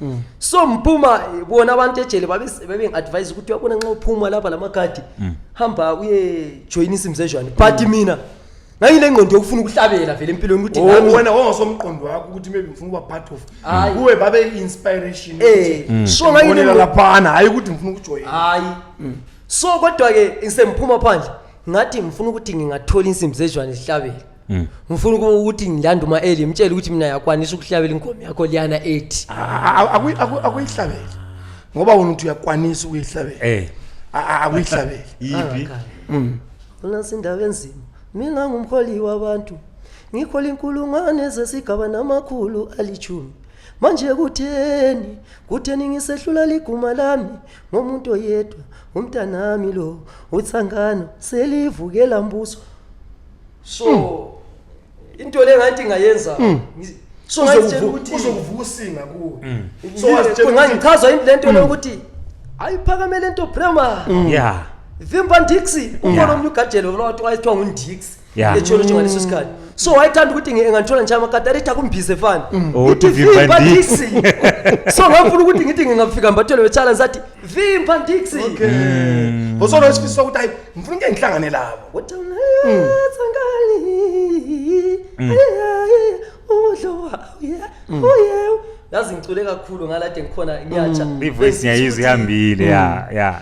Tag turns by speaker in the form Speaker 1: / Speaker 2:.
Speaker 1: Mm. so mphuma bona abantu ejele babengi-advise ukuthi uyabona nxa uphuma lapha la makhadi mm. hamba uye joyina isimzezwane but mm. mina ngayile ngqondo yokufuna ukuhlabela vele empilweni ukuthi oh, wena wawasomqondo
Speaker 2: wakho ukuthi maybe ngifuna ukuba part of kuwe babe inspiration eh mm. so
Speaker 1: ngayile laphana hayi ukuthi
Speaker 2: ngifuna ukujoyina hayi mm.
Speaker 1: so kodwa ke ngisemphuma phandle ngathi ngifuna ukuthi ngingathola insimbi zejwane zihlabele Mm. ngifuna ukuba ukuthi ngilanda uma eli mtshele ukuthi mina yakwanisa ukuhlabela inkomo yakho liyana ethi akuyihlabele
Speaker 2: ngoba wona uthi uyakwanisa ukuyihlabela eh A- a- akuyihlabele
Speaker 1: yipi unasi indaba enzima mina ngumholi wabantu ngikhola inkulungwane zesigaba namakhulu alithumi manje kutheni kutheni ngisehlula liguma lami ngomuntu oyedwa umntanami lo uthangana selivukela mbuso so mm. into le ngathi ngayenza mm. so ngayitshela ukuthi uzokuvuka
Speaker 2: usinga kuwe mm. so wazitshela
Speaker 1: ngangichaza into lento mm. lokuthi ayiphakame lento prema mm. yeah vimba ndixi ukhona omunye ugajelo lona wathi wayethiwa ngundixi echolo nje ngaleso sikhathi so wayethanda ukuthi ngangithola nje amakati alithi akumbhize fani mm. oh, ithi vimba
Speaker 3: ndixi so
Speaker 1: ngafuna ukuthi ngithi ngingafika mbathelo wetshala ngisathi vimba ndixi
Speaker 2: osona isifiso sokuthi ngifuna ukuke
Speaker 1: ngihlangane labo yazi ngicule
Speaker 3: kakhulu
Speaker 1: ngalade
Speaker 3: ngikhona
Speaker 1: ngiyatsha ivoice
Speaker 3: ngiyayizwa
Speaker 1: ihambile
Speaker 3: ya
Speaker 1: ya